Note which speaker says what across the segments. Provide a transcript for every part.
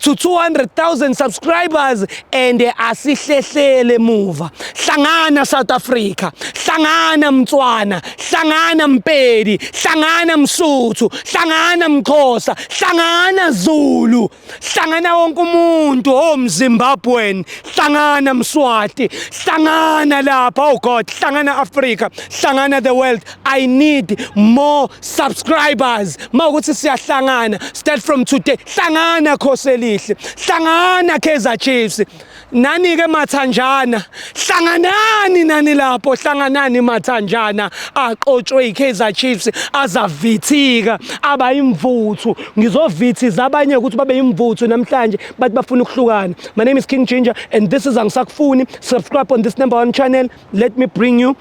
Speaker 1: to 200,000 subscribers and asihlehlele muva hlangana South Africa hlangana Mtswana hlangana Mpedi hlangana Msuthu hlangana Mxhosa hlangana Zulu hlangana wonke umuntu oh Mzimbabwean hlangana Mswati hlangana lapha oh God hlangana Africa hlangana the world I need more subscribers mawukuthi siyahlangana start from today hlangana khosi elihle hlangana Kaizer Chiefs nani ke mathanjana hlanganani nani lapho hlanganani mathanjana aqotshwe iKaizer Chiefs azavithika aba imvuthu ngizovithiza abanye ukuthi babe imvuthu namhlanje bathi bafuna ukuhlukana my name is King Ginger and this is angisakufuni subscribe on this number one channel let me bring you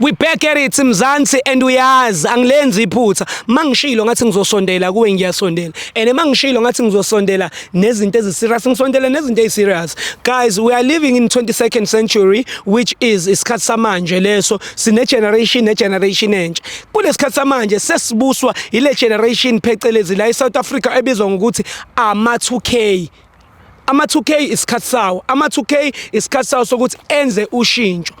Speaker 1: We back at it Mzansi and uyazi angilenzi iphutha mangishilo ngathi ngizosondela kuwe ngiyasondela and mangishilo ngathi ngizosondela nezinto eziserious ngisondela nezinto eziserious guys we are living in 22nd century which is isikhathi samanje leso sine generation ne generation entsha kulesikhathi samanje sesibuswa ile generation phecelezi la eSouth Africa ebizwa ngokuthi ama 2K Ama-2K isikhathi sawo, ama-2K isikhathi sawo sokuthi enze ushintsho.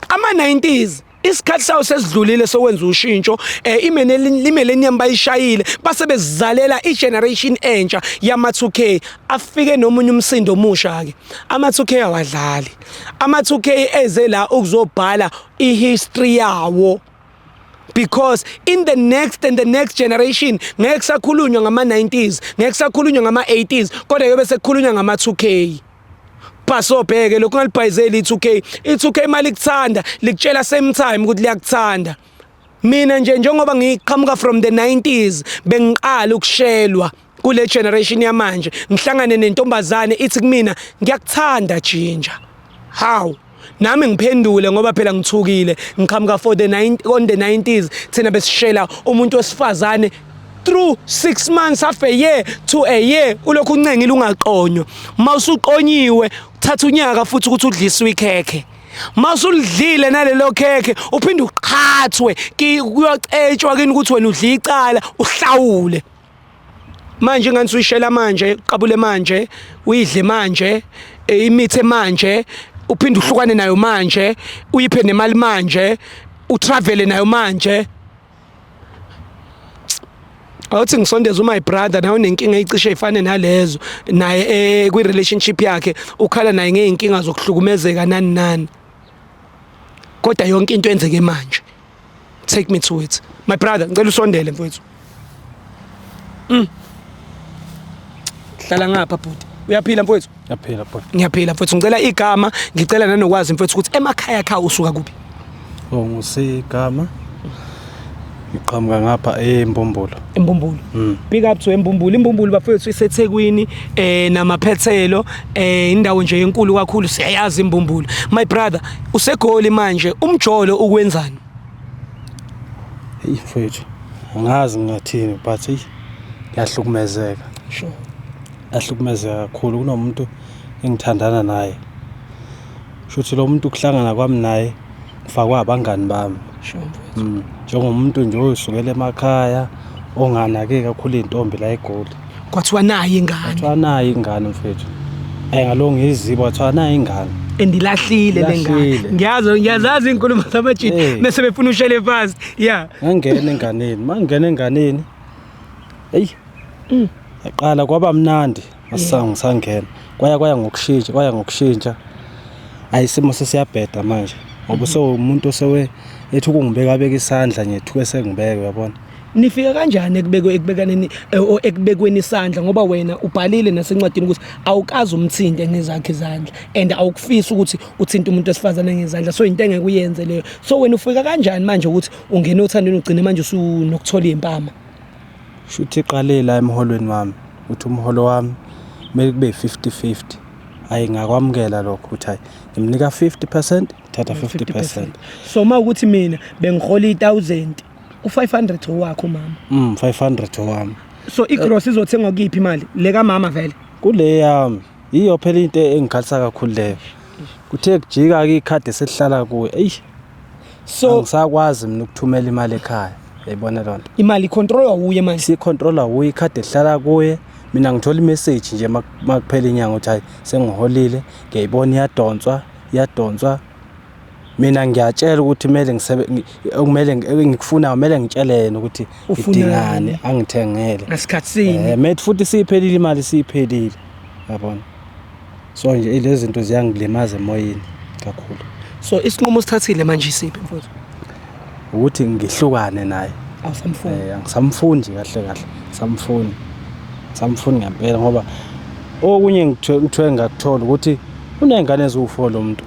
Speaker 1: Ama-90s isikhathi sawo sesidlulile sokwenza ushintsho eh imene limelenium bayishayile base bezizalela igeneration entsha yama 2K afike nomunye umsindo omusha ke ama 2K awadlali ama 2K eze la ukuzobhala ihistory yawo because in the next and the next generation ngeke sakhulunywa ngama-90s ngeke sakhulunywa ngama-80s kodwa yobe sekukhulunywa ngama-2 k bhasobheke lokhu ungalibhayizeli i-2 k i-2 k imali kuthanda likutshela same time ukuthi liyakuthanda mina nje njengoba ngiqhamuka from the 90s bengiqala ukushelwa kule generation yamanje ngihlangane nentombazane ithi kumina ngiyakuthanda jinja how nami ngiphendule ngoba phela ngithukile ngiqhamuka for the 9 on the 90s thina besishela umuntu wesifazane through 6 months half a year to a year ulokhu uncengile ungaqonywa mawusuqonyiwe thatha unyaka futhi ukuthi udliswe ikhekhe masulidlile nalelo khekhe uphinde uqhathwe kuyocetshwa kini ukuthi wena udla icala uhlawule manje ingane suyishela manje qabule manje uyidle manje eh, imithi manje uphinde uhlukane nayo manje uyiphe nemali manje utravele nayo manje awuthi ngisondeza umy brother nawe unenkinga eyicishe ifane nalezo naye eh, kwi-relationship yakhe ukhala naye ngey'nkinga zokuhlukumezeka nani nani kodwa yonke into enzeke manje take me to it my brother ngicela usondele mfowethu mm. hlala ngapha bhuti uyaphila mfowethu ngiyaphila bhuti ngiyaphila
Speaker 2: mfowethu ngicela
Speaker 1: igama ngicela nanokwazi mfowethu ukuthi emakhaya kha usuka kuphi oh ngisigama
Speaker 2: ngiqhamuka ngapha embombolo embumbulu
Speaker 1: mm. big up to embumbulu imbumbulu bafethu isethekwini eh namaphethelo eh indawo nje enkulu kakhulu siyayazi imbumbulu my brother usegoli manje umjolo ukwenzani
Speaker 2: ifethu angazi ngathini but yahlukumezeka
Speaker 1: sure
Speaker 2: yahlukumezeka kakhulu kunomuntu engithandana naye shuthi lo muntu kuhlangana kwami naye ngifakwa abangani bami mm, njengomuntu nje oyosukela emakhaya onganake kakhulu iy'ntombi la egoli kwathiwa nayo
Speaker 1: ingane kwathiwa nayo ingane
Speaker 2: mfethu um ngalo ngiyiziba kwathiwa nayo ingane endilahlile le
Speaker 1: ngane ngiyazi ngiyazazi iy'nkulumo zamajini eh. mese befuna ushele phansi ya ngangena enganeni
Speaker 2: ma ngingena enganeni eyi mm. yaqala kwaba mnandi Asange sangena. Kwaya kwaya ngokushintsha, kwaya ngokushintsha. Ayisimo sesiyabheda manje. Ngoba so umuntu osewe ethi ukungibeka abeka isandla nje thuke sengibeke uyabona. Nifika kanjani
Speaker 1: ekubekwe ekubekaneni eh, o- ekubekweni isandla ngoba wena ubhalile nasencwadini ukuthi awukazi umthinte ngezakhe izandla and awukufisi ukuthi uthinte umuntu wesifazane ngezandla so into engeke uyenze leyo so wena ufika kanjani manje ukuthi ungena othandweni ugcine manje usunokuthola impama Shuthi
Speaker 2: iqale la emholweni wami ukuthi umholo wami kumele kube yi-fifty fifty. Hhayi ngakwamukela lokho ukuthi hhayi ngimnika fifty percent thatha fifty percent. So uma ukuthi
Speaker 1: mina bengihola i-thousand u-five hundred owakho mama. Mm, five hundred owami.
Speaker 2: So igross
Speaker 1: izothengwa kuyiphi imali? Le kamama vele? Kule yami.
Speaker 2: Yiyo phela into engikhalisa kakhulu leyo. Kuthe kujika ke ikhadi esihlala kuwe. Ey. So ngisakwazi mina ukuthumela imali ekhaya. Yayibona lonto. Imali controller uye
Speaker 1: manje. Si controller uye ikhadi
Speaker 2: ehlala kuye. Mina ngithola imessage nje makuphela inyanga ukuthi hayi sengiholile. Ngiyayibona iyadonswa, iyadonswa. Mina ngiyatshela ukuthi kumele ngisebe okumele engikufuna kumele ngitshele yena ukuthi idingane angithengele. Ngasikhathi sini? Eh
Speaker 1: mate futhi siphelile
Speaker 2: imali siphelile. Yabona. So nje lezi zinto ziyangilimaza emoyeni kakhulu. So isinqumo
Speaker 1: sithathile manje isiphi mfowethu? ukuthi
Speaker 2: ngihlukane naye awusamfuni eh
Speaker 1: angisamfuni nje kahle
Speaker 2: kahle samfuni samfuni ngempela ngoba okunye ngithwe ngakuthola ukuthi unezingane eziwu4 lo muntu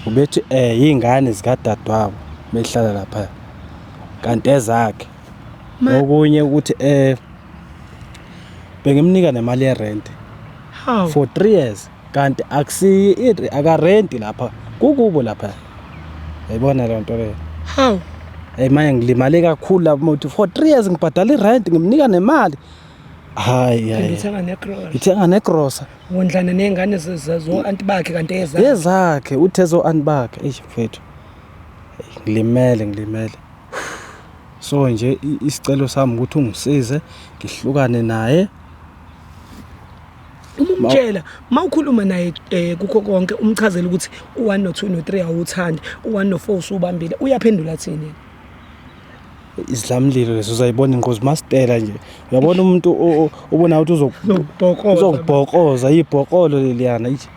Speaker 2: ubethi eh izingane zikadadewabo behlala lapha kanti ezakhe okunye ukuthi eh bengimnika nemali yerent for 3 years kanti akusiyi i- akarenti lapha kukubo lapha yayibona leyo nto leyo Hawu.
Speaker 1: eyi manje
Speaker 2: ngilimale kakhulu lapho muthi for three years ngibhadala irenti ngimnika nemali hayi Phinde hayi uthenga necross. ngithenga negrosa Wondlana nezingane
Speaker 1: zezo anti bakhe kanti eza. ezakhe uthe
Speaker 2: zo-anti bakhe eyi mfethu Eyi, ngilimele ngilimele so nje i- isicelo sami ukuthi ungisize ngihlukane naye
Speaker 1: uma umtshela uma ukhuluma naye um kukho konke umchazela ukuthi u-one no-two no-three awuwuthandi u-one no-four usuwubambile uyaphendula athini izidlamlilo
Speaker 2: lezo uzayibona ingozi masitela nje uyabona umuntu ubona ukuthi uzokubhokoza ibhokolo leliyana ithi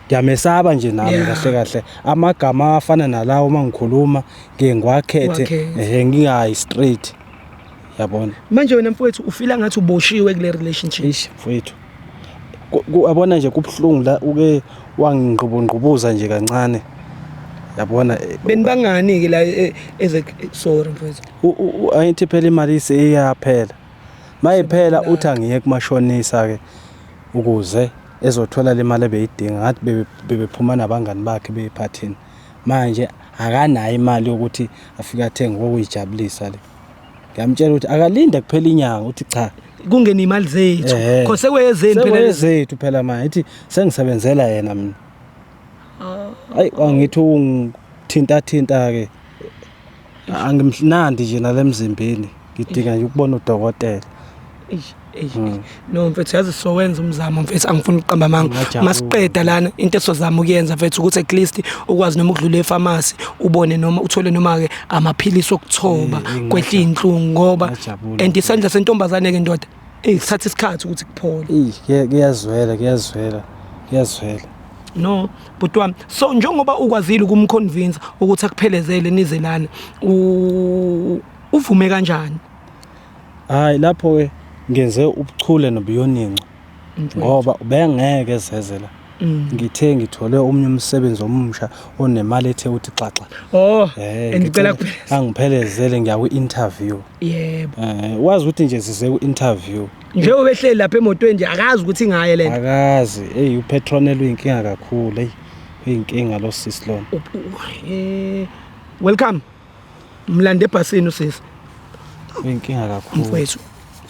Speaker 2: ngiyamesaba nje nami kahle kahle amagama afana nalawo uma ngikhuluma ngiye ngiwakhethe ehe ngingayi straight yabona manje wena mfowethu
Speaker 1: ufila ngathi uboshiwe kule relationship eish mfowethu
Speaker 2: abona nje kubuhlungu la uke wangingqubungqubuza nje kancane yabona eh, benibangani
Speaker 1: ke la eh, eze eh, sorry mfowethu ayithi phela
Speaker 2: imali isiyaphela mayiphela uthi angiye kumashonisa ke ukuze ezothola le mali ebeyidinga ngathi bebephuma nabangani bakhe beyiphathini manje akanayo imali yokuthi afike athenge kokuyijabulisa le Ngiyamtshela ukuthi akalinde kuphela inyanga uthi cha kungena imali zethu
Speaker 1: Eh. khose kweyezeni phela lezi. Sekwezethu phela
Speaker 2: manje ithi sengisebenzela yena mina. Hayi angithi ungithinta thinta ke. Angimnandi nje nalemzimbeni. Ngidinga nje ukubona udokotela. Eish. Mm. no
Speaker 1: mfethu yazi sowenza umzamo mfethu angifuni ukuqamba amanga masiqeda lana into esozama ukuyenza mfethu ukuthi at least ukwazi noma ukudlula efamasi ubone noma uthole noma-ke amaphilisi okuthoba eh, eh, kwehla iy'nhlungu ngoba and isandla sentombazane-ke ndoda eyi kuthatha isikhathi ukuthi kuphole kuyazwela
Speaker 2: kuyazwela kuyazwela
Speaker 1: no bhuti wami so njengoba ukwazile ukumconvinsa ukuthi akuphelezele nizelane uvume kanjani
Speaker 2: Hayi lapho ke ngenze ubuchule nobuyoninco ngoba ubengeke ezeze la. Mm. Ngithe ngithole omunye umsebenzi omusha onemali ethe uthi xaxa. Oh, eh, ngicela
Speaker 1: kupheleza. Angiphelezele
Speaker 2: ngiya kwi-interview. Yebo. Eh,
Speaker 1: wazi ukuthi nje
Speaker 2: size ku-interview. Nje ubehleli
Speaker 1: lapha emotweni nje akazi ukuthi ngaye lento. Akazi. Hey,
Speaker 2: upetronel uyinkinga kakhulu. Hey, uyinkinga lo sis lona. Eh,
Speaker 1: welcome. mlande ebhasini usisi inkinga
Speaker 2: kakhulu mfowethu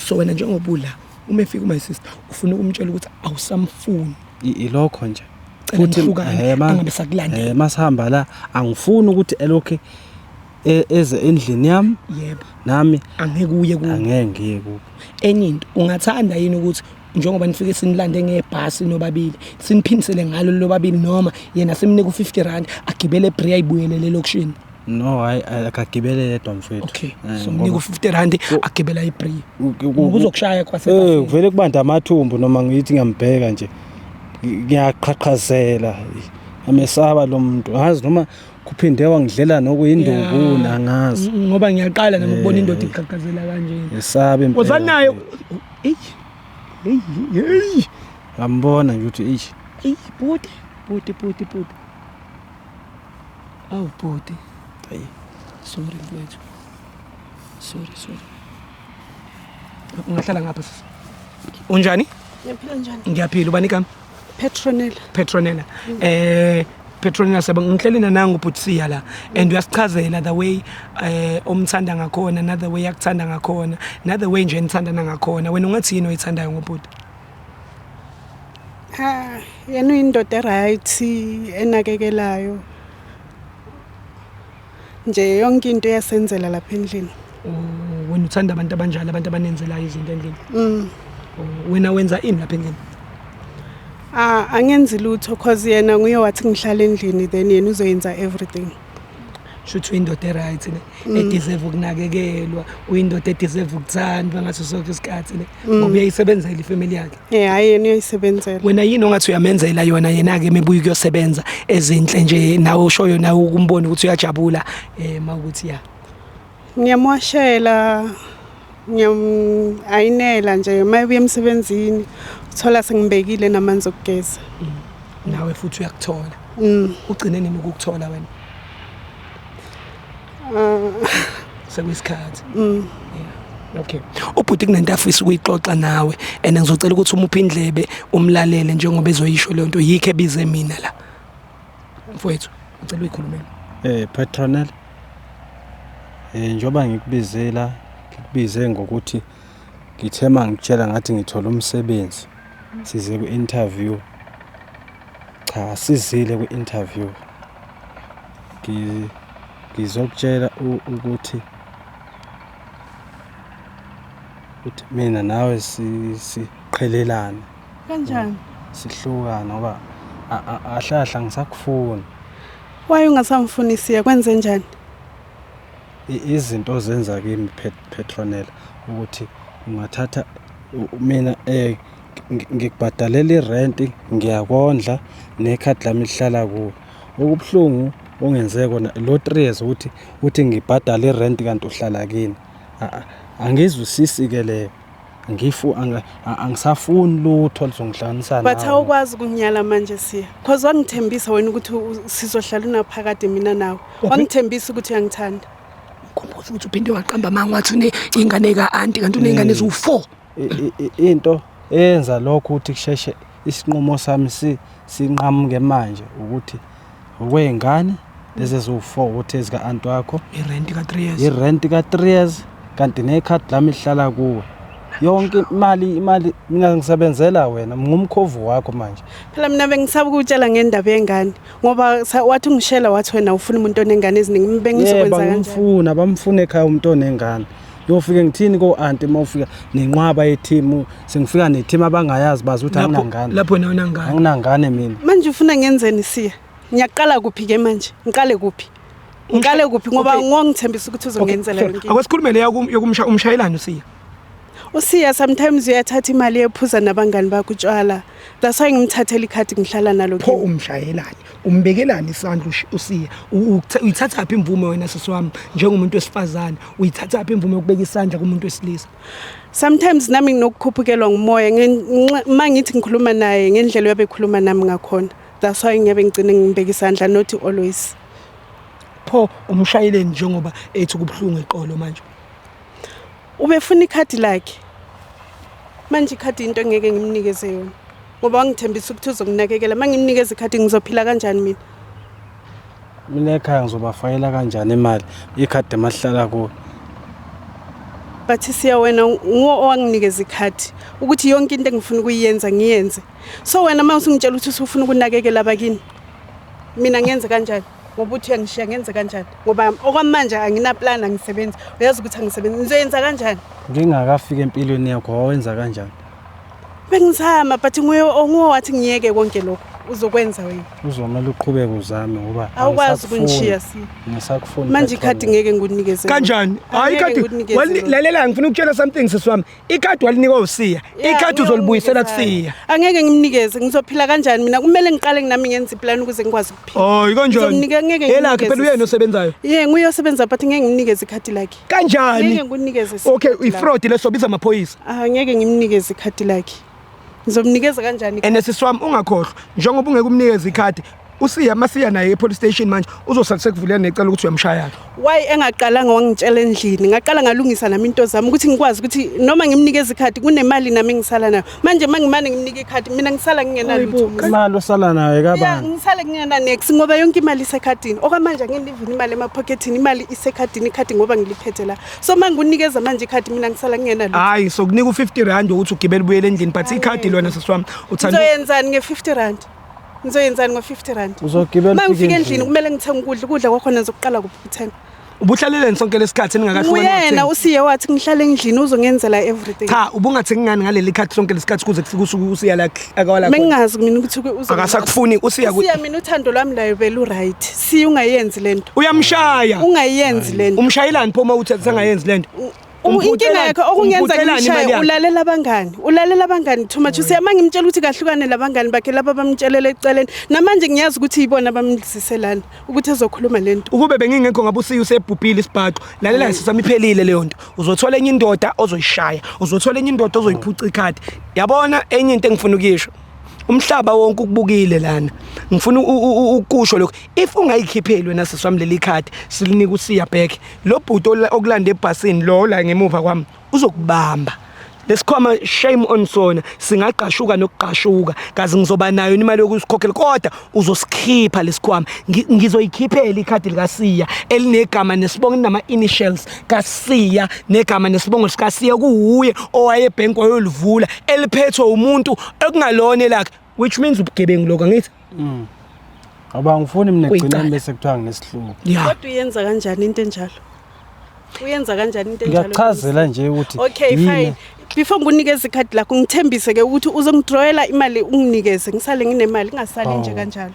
Speaker 2: so
Speaker 1: wena njengobula uma efika uma sister ufuna ukumtshela ukuthi awusamfuni
Speaker 2: ilokho nje futhi
Speaker 1: angabe sakulanda eh masihamba la
Speaker 2: angifuni ukuthi elokhe e, eze endlini yami yebo nami
Speaker 1: angeke
Speaker 2: uye ku
Speaker 1: angeke ngiye ku
Speaker 2: enye into
Speaker 1: ungathanda yini ukuthi njengoba nifike sinilande ngebhasi nobabili siniphindisele ngalo lobabili noma yena simnika u-50 rand agibele ebreya ayibuyelele elokishini no hayi
Speaker 2: akagibele yedwa mfethu okay eh, so mnika
Speaker 1: u-50 rand agibela ebreya kuzokushaya kwase eh, kuvele kubanda amathumbu
Speaker 2: noma ngiyithi ngiyambheka nje ngiyaqhaqhazela amesaba lo muntu ngazi noma kuphinde wangidlela nokuyindubuna angazi ngoba ngiyaqala nami
Speaker 1: ukubona eh. indoda iqhaqhazela kanjena esabe impela wozanayo Eish. Hey, hey.
Speaker 2: Ngambona nje ukuthi eish. Hey, bhuti,
Speaker 1: bhuti, bhuti, bhuti. Awu bhuti. Hey. Sorry mfethu. Sorry, sorry. Ungahlala ngapha sisi. Unjani? Ngiyaphila njani?
Speaker 3: Ngiyaphila ubani kami?
Speaker 1: Petronella. Petronella. Eh Petronella sebe ngihlelina nangu Butsia la and uyasichazela the way eh omthanda ngakhona na the way yakuthanda ngakhona na the way nje nithandana ngakhona wena ungathi yini oyithandayo ngobhuti
Speaker 3: Ah yena uyindoda right enakekelayo nje yonke into uyasenzela lapha endlini oh, wena
Speaker 1: uthanda abantu abanjalo abantu abanenzelayo izinto endlini mm. oh, wena wenza ini lapha endlini Ah angenzi
Speaker 3: lutho cause yena nguye wathi ngihlala endlini then yena uzoyenza everything. Shuthi
Speaker 1: uyindoda eright ne mm. edeserve ukunakekelwa, uyindoda edeserve ukuthandwa ngaso sonke isikhathi ne mm. ngoba uyayisebenzela ifamily yakhe. Eh hayi yena uyayisebenzela.
Speaker 3: Wena yini ongathi uyamenzela
Speaker 1: yona yena ke mebuyi kuyosebenza ezinhle nje nawe ushoyo nawe ukumbona ukuthi uyajabula eh mawukuthi ya. Ngiyamwashela
Speaker 3: ngiyayinela nje mayebuya emsebenzini uthola sengibekile namanzi okugeza. Mm. Nawe
Speaker 1: futhi uyakuthola. Mm. Ugcine nini ukukuthola wena? Ah. Sekuyisikhathi. Mm. Okay. Ubhuti kunento afisa ukuyixoxa nawe and ngizocela ukuthi umuphe indlebe umlalele njengoba ezoyisho le nto yikho ebize mina la. Mfowethu, ngicela uyikhulumele. Eh Petronel.
Speaker 2: Eh njoba ngikubizela ngikubize ngokuthi ngithe mangitshela ngathi ngithola umsebenzi. size kwi-interview cha asizile kwi-interview ngizokutshela ukuthi ukuthi mina nawe siqhelelane kanjani
Speaker 3: sihlukana
Speaker 2: ngoba ahlahla ngisakufuni waye
Speaker 3: ungasamfunisiye kwenze njani Izinto
Speaker 2: ozenza kimi Petronella ukuthi ungathatha mina eh ngikubhadalela irenti ngiyakondla nekhadi lami lihlala kuwe okubuhlungu ongenze kona lo 3 years ukuthi uthi ngibhadale irenti kanti uhlala kini angizwisisi ke leyo ngifu ang- a- angisafuni lutho lizongihlanganisa but nawe. awukwazi ukunginyala
Speaker 3: manje siya cause wangithembisa wena ukuthi u- sizohlala unaphakade mina nawe wangithembisa ukuthi uyangithanda khumbuza ukuthi
Speaker 1: uphinde waqamba amanga wathi uney'ngane ka-anti kanti uney'ngane eziwu-four I- i- i- into
Speaker 2: eyenza lokho ukuthi kusheshe isinqumo sami si- sinqamuke manje ukuthi okwey'ngane lezi eziwu-four ukuthi ezika-anti wakho irenti ka-three years
Speaker 1: irenti
Speaker 2: ka-three years kanti nekhadi lami lihlala kuwe yonke imali imali mina ngisebenzela wena ngumkhovu wakho manje phela mina bengisaba
Speaker 3: ukutshela ngendaba yengane ngoba wathi ungishela wathi wena ufuna umuntu onengane eziningi bengizokwenzakangifuna bamfuna ekhaya umuntu
Speaker 2: onengane Yofike ngithini ko aunti uma ufika nenqwaba yethimu sengifika nethimu abangayazi bazi ukuthi Lapho- anginangane. lapho nawe unangane.
Speaker 1: Anginangane mina. manje
Speaker 2: ufuna ngenzeni
Speaker 3: siya ngiyaqala kuphi ke manje ngiqale kuphi ngiqale kuphi ngoba Okay. ngongithembisa ukuthi uzongenzela yonke into. Awasikhulume le yokum- yokumsha
Speaker 1: umshayelani usiya.
Speaker 3: usiya sometimes uyathatha imali yephuza nabangani bakho utshwala that's why ngimthathela ikhadi ngihlala nalo Pho kimi. umshayelani?
Speaker 1: umbekelani isandla usiya uyithathaphi imvume wena sisi wami njengomuntu wesifazane uyithathaphi imvume yokubeka isandla kumuntu wesilisa sometimes
Speaker 3: nami nginokukhuphukelwa ngumoya uma ngithi ngikhuluma naye ngendlela uyabekhuluma nami ngakhona that's why ngiyabe ngigcine ngibeka isandla not always pho
Speaker 1: umshayeleni njengoba ethi kubuhlungu eqolo manje
Speaker 3: ubefuna ikhadi lakhe manje ikhadi into engeke ngimnikeze yona ngoba wangithembisa ukuthi uzokunakekela uma ngimnikeza ikhathi ngizophila kanjani mina
Speaker 2: mina ekhaya ngizobafayela kanjani imali ikhadi emahlala kuyo bathi
Speaker 3: siya wena nguwo owanginikeza ikhathi ukuthi yonke into engifuna ukuyenza ngiyenze so wena uma usungitshela ukuthi usufuna ukunakekela abakini mina ngenze kanjani ngoba uthi uyangishiya ngenze kanjani ngoba okwamanje anginaplan angisebenzi uyazi ukuthi angisebenzi ngizoyenza kanjani ngingakafika
Speaker 2: empilweni yakho wawenza kanjani bengizama
Speaker 3: but nguye onguwe wathi ngiyeke konke lokho uzokwenza wena uzomele uqhubeke
Speaker 2: uzame ngoba awukwazi ukungishiya
Speaker 3: si ngisakufuna
Speaker 2: manje ikhadi ngeke
Speaker 3: ngikunikeze kanjani hayi
Speaker 1: ikhadi lalela ngifuna ukutshela something sisi wami ikhadi walinika usiya ikhadi uzolibuyisela kusiya angeke ngimnikeze
Speaker 3: ngizophila kanjani mina kumele ngiqale nami ngenze iplan ukuze ngikwazi ukuphila oh ikonjani
Speaker 1: yelakhe phela uyena
Speaker 3: osebenzayo
Speaker 1: ye nguye osebenza but
Speaker 3: ngeke ngimnikeze ikhadi lakhe kanjani ngeke
Speaker 1: ngikunikeze
Speaker 3: okay ifraud leso
Speaker 1: biza amaphoyisa Angeke ngimnikeze
Speaker 3: ikhadi lakhe. Ngizomnikeza kanjani? And sisi wami ungakhohlwa
Speaker 1: njengoba ungeke umnikeze ikhadi usiya masiya naye epolice station manje uzosala sekuvulela necela ukuthi uyamshaya why engaqalanga
Speaker 3: wangitshela endlini ngaqala ngalungisa nami into zami ukuthi ngikwazi ukuthi noma ngimnikeza ikhadi kunemali nami ngisala nayo manje uma ngimane ngimnike ikhadi mina ngisala ngingenalutho imali osala nayo
Speaker 2: kabani ngisale kungenanex
Speaker 3: ngoba yonke imali isekhadini okwamanje angiyilivini imali emaphokethini imali isekhadini ikhadi ngoba ngiliphethe la so manje unikeza manje ikhadi mina ngisala kungena lutho hayi so kunika u50
Speaker 1: rand ukuthi ugibele ubuyele endlini but ikhadi lona sisiwami uthanda uzoyenzani nge50
Speaker 3: rand ngizoyenzani ngo-50 rand uzogibela uma ngifika
Speaker 2: endlini kumele
Speaker 3: ngithenge ukudla ukudla kwakhona ngizokukala kuphi ukuthenga ubuhlaleleni sonke
Speaker 1: lesikhathi ningakahlukaniyena usiye wathi
Speaker 3: ngihlale endlini uzongenzela everything cha ubungathi ngingani
Speaker 1: ngaleli khathi sonke lesikhathi kuze kufike usuku usiya la akawala mina ngingazi mina ukuthi uze
Speaker 3: akasakufuni usiya
Speaker 1: mina uthando lwami
Speaker 3: layo belu right Siya ungayenzi lento. Uyamshaya.
Speaker 1: Ungayenzi lento.
Speaker 3: Umshayelani pho uma uthi
Speaker 1: sangayenzi lento? inkinga yakhe
Speaker 3: okungenza ngimshaye ulalela abangani ulalela abangani too much usiyama ngimtshela ukuthi kahlukane labangani bakhe laba bamtshelela eceleni namanje ngiyazi ukuthi yibona bamlisiselana ukuthi ezokhuluma lento ukube bengingekho ngabe usiyi
Speaker 1: usebhubhile isibhaxo lalela mm. sisami phelile leyo nto uzothola enye indoda ozoyishaya uzothola enye indoda ozoyiphuca ikhadi yabona enye into engifuna ukuyisho umhlaba wonke ukubukile lana ngifuna ukusho lokho if ungayikhipheli wena sisi wami leli card silinika usiya back lo bhuti okulanda ebhasini lo la ngemuva kwami uzokubamba lesikhwama shame on sona singaqashuka nokugqashuka kazi ngizoba nayo imali yokusikhokhela kodwa uzosikhipha lesikhwama ngizoyikhiphela ikhadi likasiya elinegama nesibongo nama initials kasiya negama nesibongo sikasiya kuwuye owaye bank wayolivula eliphethwe umuntu ekungalona elakhe which means ubugebengu lokho ngithi mm.
Speaker 2: Aba ngifuni mina kugcina bese kuthiwa nginesihluku. Kodwa uyenza
Speaker 3: kanjani into enjalo? uyenza kanjani into enjalo ngiyachazela nje ukuthi
Speaker 2: okay fine
Speaker 3: before ngikunikeze ikhadi lakho ngithembise ke ukuthi uzongidrawela imali unginikeze ngisale nginemali ngingasali oh. nje kanjalo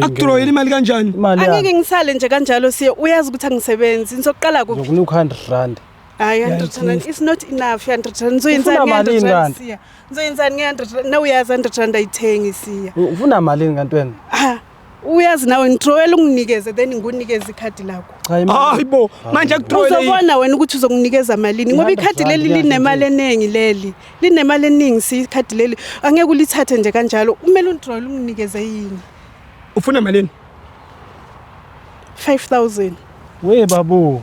Speaker 3: akudrawela imali
Speaker 1: kanjani angeke ngisale nje
Speaker 3: kanjalo siye uyazi ukuthi angisebenzi ngizoqala kuphi ngokunika 100 rand
Speaker 2: hayi 100 rand
Speaker 3: is not enough 100 rand ngizoyenzani 100 rand siya ngizoyenzani nge 100 rand na uyazi 100 rand ayithengi siya ufuna malini kanti
Speaker 2: wena uyazi
Speaker 3: nawe ngithrowela unginikeze then ngunikeze ikhadi lakho hayi bo
Speaker 1: manje akuthrowele uzobona wena ukuthi
Speaker 3: uzokunikeza malini ngoba ikhadi leli linemali eningi leli linemali eningi si ikhadi leli angeke ulithathe nje kanjalo kumele ungithrowele unginikeze yini ufuna malini
Speaker 1: 5000
Speaker 3: we babu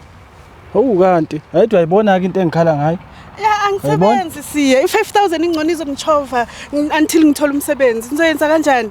Speaker 2: hawu kanti ayidwa ayibona ke into engikhala ngayo angisebenzi
Speaker 3: siye i-5000 ingcono izongitshova until ngithole umsebenzi ngizoyenza kanjani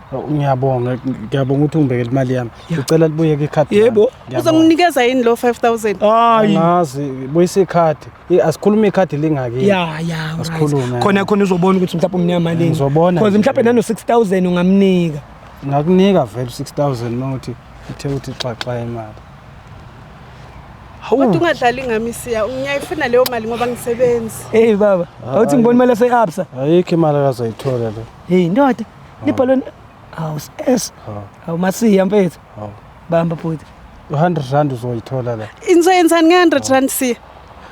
Speaker 1: Oh, ngiyabonga
Speaker 2: ngiyabonga ukuthi ungibekele imali yami ngicela libuyeke ikhadi yebo uzonginikeza
Speaker 1: yini lo
Speaker 3: 5000 hayi ngazi
Speaker 2: buyisa ikhadi asikhulume ikhadi lingaki ya ya
Speaker 1: asikhulume khona khona uzobona ukuthi mhlawumbe umnika malini ngizobona because mhlawumbe nano 6000 ungamnika ngakunika
Speaker 2: vele 6000 nothi uthe uthi xaxa imali
Speaker 3: Kodwa ungadlali ngami siya, ngiyayifuna leyo mali ngoba ngisebenzi. Hey baba, awuthi
Speaker 1: ngibona imali yase-Absa. Ayikho imali
Speaker 2: akazoyithola le. Hey ndoda. libhalwe
Speaker 1: hawu s hawu masiya mfethu bamba bhuti 100 rand
Speaker 2: uzoyithola la insoyenzani nge-100 rand
Speaker 3: siya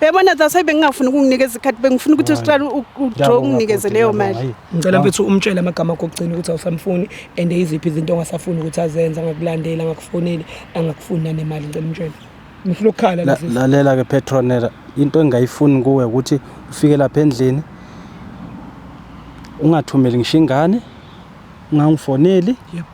Speaker 3: yabona that's why bengingafuni ukunginikeza ikhathi bengifuna ukuthi usiqala udraw unginikeze leyo mali ngicela mfethu umtshele
Speaker 1: amagama akho okugcina ukuthi awusamfuni and iziphi izinto ongasafuni ukuthi azenze angakulandeli angakufoneli angakufuni nanemali ngicela umtshele ngifuna ukukhala la sisi lalela ke petronera
Speaker 2: into engayifuni kuwe ukuthi ufike lapha endlini ungathumeli ngisho ingane ungangifoneli yep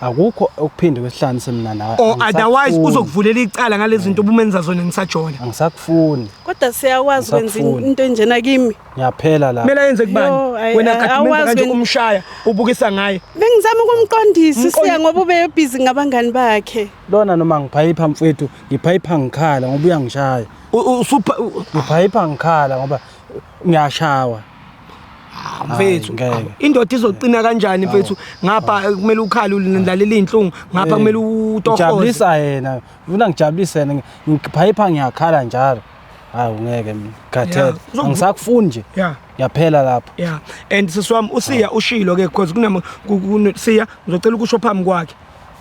Speaker 2: akukho okuphinde kwehlanise mina nawe or otherwise
Speaker 1: uzokuvulela icala ngalezi zinto obumenza zona ngisajona angisakufuni
Speaker 2: kodwa siyakwazi
Speaker 3: kwenza into enjena kimi ngiyaphela la kumele
Speaker 2: yenze kubani
Speaker 1: wena kakhuluma
Speaker 3: kanje
Speaker 1: umshaya
Speaker 3: ubukisa
Speaker 1: ngaye bengizama ukumqondisa
Speaker 3: siya ngoba ubeyobhizi ngabangani bakhe Lona noma ngiphayipha
Speaker 2: mfwethu, ngiphayipha ngikhala ngoba uyangishaya. Usupha ngiphayipha ngikhala ngoba ngiyashawa.
Speaker 1: Ah, mfethu indoda
Speaker 2: izoqina
Speaker 1: kanjani mfethu ngapha kumele ukhale ulilalela izinhlungu ngapha kumele utohoze jabulisa yena
Speaker 2: ufuna ngijabulise yena ngiphayipha ngiyakhala njalo hayi ungeke mina khathele angisakufuni
Speaker 1: nje
Speaker 2: yaphela
Speaker 1: lapho
Speaker 2: yeah and sisi
Speaker 1: wami usiya ushilo ke because kunama siya ngizocela ukusho phambi kwakhe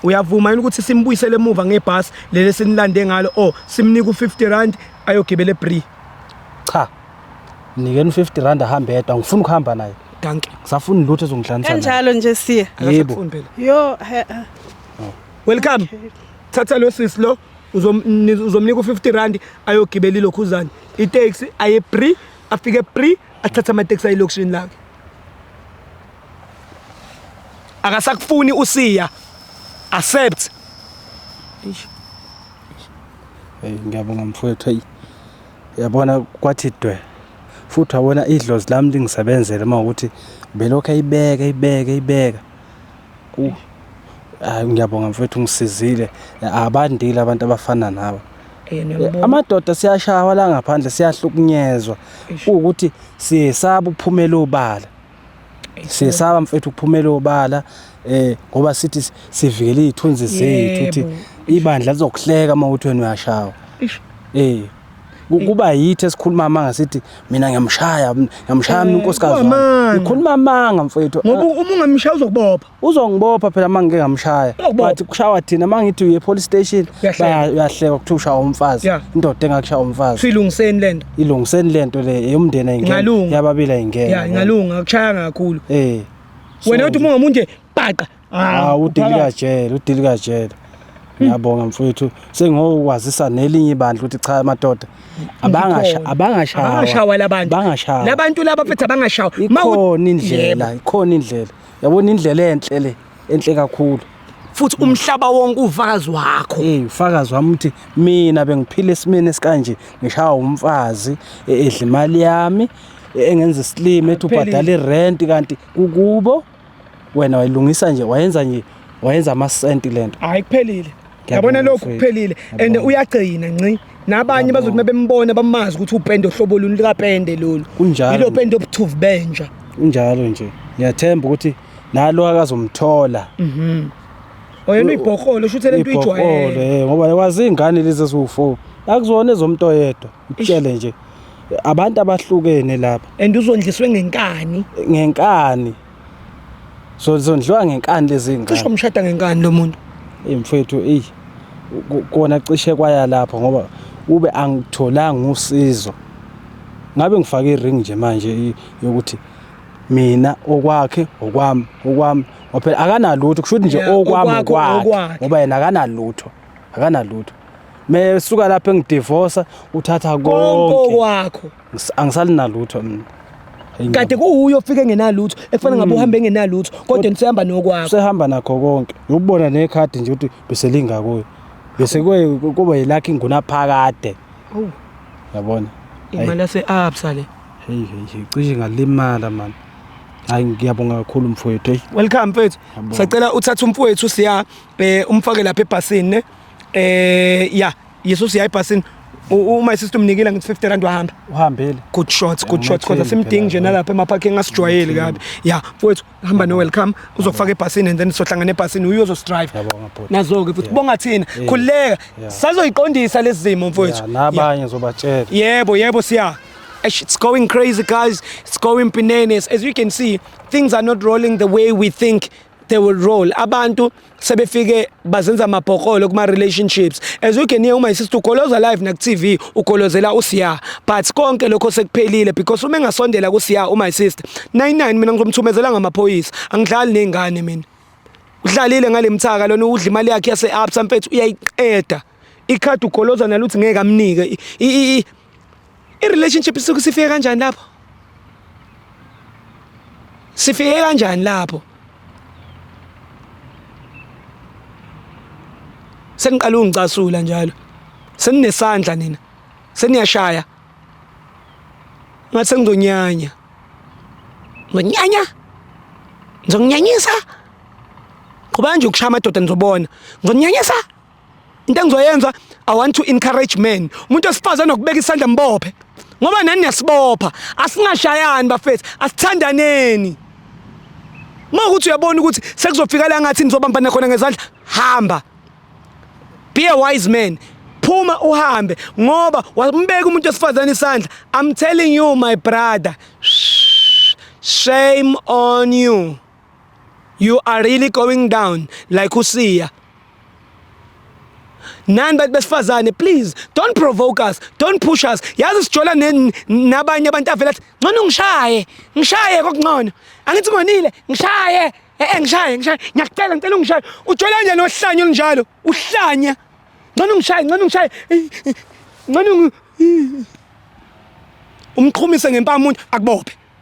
Speaker 1: uyavuma yini ukuthi simbuyisele emuva ngebhasi leli esinilande ngalo o simnike u-50 rand ayogibela ebri cha
Speaker 2: mnikeni u-50 rand ahambe yedwa ngifuna ukuhamba naye danki kusafuni
Speaker 1: lutho ezongihlanisa
Speaker 2: kanjalo nje siya
Speaker 3: yebo yo
Speaker 1: welcome thatha lo sisi lo uzomnika u-50 rand ayogibela ilokhuzane itaxi aye pre afike pre athathe amateksi ayilokishini lakhe akasakufuni usiya accept hey
Speaker 2: ngiyabonga mfowethu hey yabona kwathi dwe futhi wabona idlozi lami lingisebenzele uma ukuthi belokhu ayibeka ibeka ibeka uh hayi ngiyabonga mfowethu ngisizile abandile abantu abafana nawe eh, eh, amadoda siyashawa la ngaphandle siyahlukunyezwa ukuthi siyesaba ukuphumela obala siyesaba mfethu ukuphumela obala eh ngoba sithi sivikele izithunzi zethu ukuthi ibandla lizokuhleka uma uthi wena uyashawa eh kuba yithi esikhuluma amanga sithi mina ngiyamshaya ngiyamshaya mina unkosikazi wami ngikhuluma amanga mfethu ngoba uma ungamshaya
Speaker 1: uzokubopha uzongibopha phela uma
Speaker 2: ngike ngamshaya but kushawa thina uma ngithi uye police station uyahleka kuthiwa ushaya umfazi indoda engakushaya umfazi silungiseni le nto
Speaker 1: ilungiseni le nto le
Speaker 2: eyomndeni ayingene yababili ayingene ya ingalunga akushaya
Speaker 1: kakhulu eh wena
Speaker 2: uthi uma umuntu
Speaker 1: bhaqa ah udilika
Speaker 2: jele udilika jele ngiyabonga mfowethu sengiyokwazisa nelinye ibandla ukuthi cha amadoda abangasha abangashawa
Speaker 1: abangashawa labantu laba phethe abangashawa ikhona indlela
Speaker 2: ikhona indlela yabona indlela enhle le enhle kakhulu futhi umhlaba
Speaker 1: wonke ufakazi wakho hey ufakazi wami uthi
Speaker 2: mina bengiphila esimeni esikanje ngishawa umfazi e- edla imali yami e- engenza isilima ethi ubhadala irent kanti kukubo wena wayilungisa nje wayenza nje wayenza amasenti lento hayi kuphelile
Speaker 1: yabona lokhu kuphelile and uyagcina nci nabanye bazothi mebembona bamazi ukuthi upende ohlobo luni likapende lolu yilo pende obuthuvu benja kunjalo nje
Speaker 2: ngiyathemba ukuthi nalo akazomthola mhm
Speaker 1: oyena ibhokholo shuthi lento ijwayele eh, ngoba wazi ingane
Speaker 2: lezi eziwu4 akuzona ezomntu oyedwa utshele nje abantu abahlukene lapha and uzondliswe
Speaker 1: ngenkani ngenkani
Speaker 2: So zondliwa ngenkani lezi ngane. Cishe umshada ngenkani lo
Speaker 1: muntu. Ey mfethu ey
Speaker 2: kona cishe kwaya lapho ngoba ube angitholanga usizo. Ngabe ngifake iring nje manje yokuthi mina okwakhe okwami okwami ngoba akanalutho kusho ukuthi nje okwami okwakhe ngoba yena akanalutho akanalutho. Mesuka lapho engidivorce uthatha konke. Konke okwakho.
Speaker 1: angisalinalutho
Speaker 2: mina kade
Speaker 1: kuwuyo ofike engenalutho ekufana ngabe mm. uhambe engenalutho kodwa nisehamba nokwakho sehamba nakho konke
Speaker 2: ubona nekhadi nje ukuthi beselinga kuyo bese kuba yilakho inguna phakade oh. yabona imali
Speaker 1: yase-absa le heyi heyi
Speaker 2: cishe ngalimala mani hayi ngiyabonga kakhulu mfowethu eyi welcome mfethu
Speaker 1: sacela uthathe umfowethu siya um umfake lapha ebhasini ne um ya yeso siya ebhasini U- uma sister umnikile ngithi 50 rand wahamba uhambile good
Speaker 2: shots good shots
Speaker 1: kodwa Ungathembi simdingi nje phela, nalapha emaphakeni asijwayeli kabi ya mfowethu hamba no welcome uzokufaka ebhasini and then sohlangana ebhasini uye ozosidrive Ngiyabonga, bhuti. nazo-ke futhi bonga thina Yeah. khululeka Yeah. sazoyiqondisa lezi zimo Ya, mfowethu Ya. nabanye zobatshela
Speaker 2: Yebo, yebo siya.
Speaker 1: Eish, It's going crazy guys. It's going bananas. As you can see, things are not rolling the way we think they will roll abantu sebefike bazenza amabhokolo kuma relationships as you can hear uma isister ugoloza live na TV ugolozela usiya but konke lokho sekuphelile because uma engasondela kusiya uma isister 99 mina ngizomthumezela ngamaphoyisa angidlali nezingane mina udlalile ngalemthaka lona udla imali yakhe yase absa mfethu uyayiqeda ikhadi ugoloza nalo uthi ngeke amnike i-relationship isuke sifike kanjani lapho sifike kanjani lapho seniqala ungicasula njalo seninesandla nina seniyashaya ngathi sengizonyanya ngonyanya ngizonyanyisa qhubanje ukushaya amadoda nizobona ngonyanyisa into engizoyenza i want to encourage men umuntu osifazane nokubeka isandla mbophe ngoba nani niyasibopha asingashayani bafethu asithandaneni uma ukuthi uyabona ukuthi sekuzofika la ngathi nizobambana khona ngezandla hamba be a wise man phuma uhambe ngoba wambeka umuntu osifazane isandla i'm telling you my brother shame on you you are really going down like usiya nani bantu besifazane please don't provoke us don't push us yazi sijola nabanye abantu avela athi ngcono ngishaye ngishaye kokungcono angithi ngonile ngishaye eh, eh ngishaye ngishaye ngiyakucela ngicela ungishaye ujola nje nohlanya olunjalo uhlanya ngcono ngishaye ngcono ngishaye ngcono umqhumise ngempama umuntu akubophe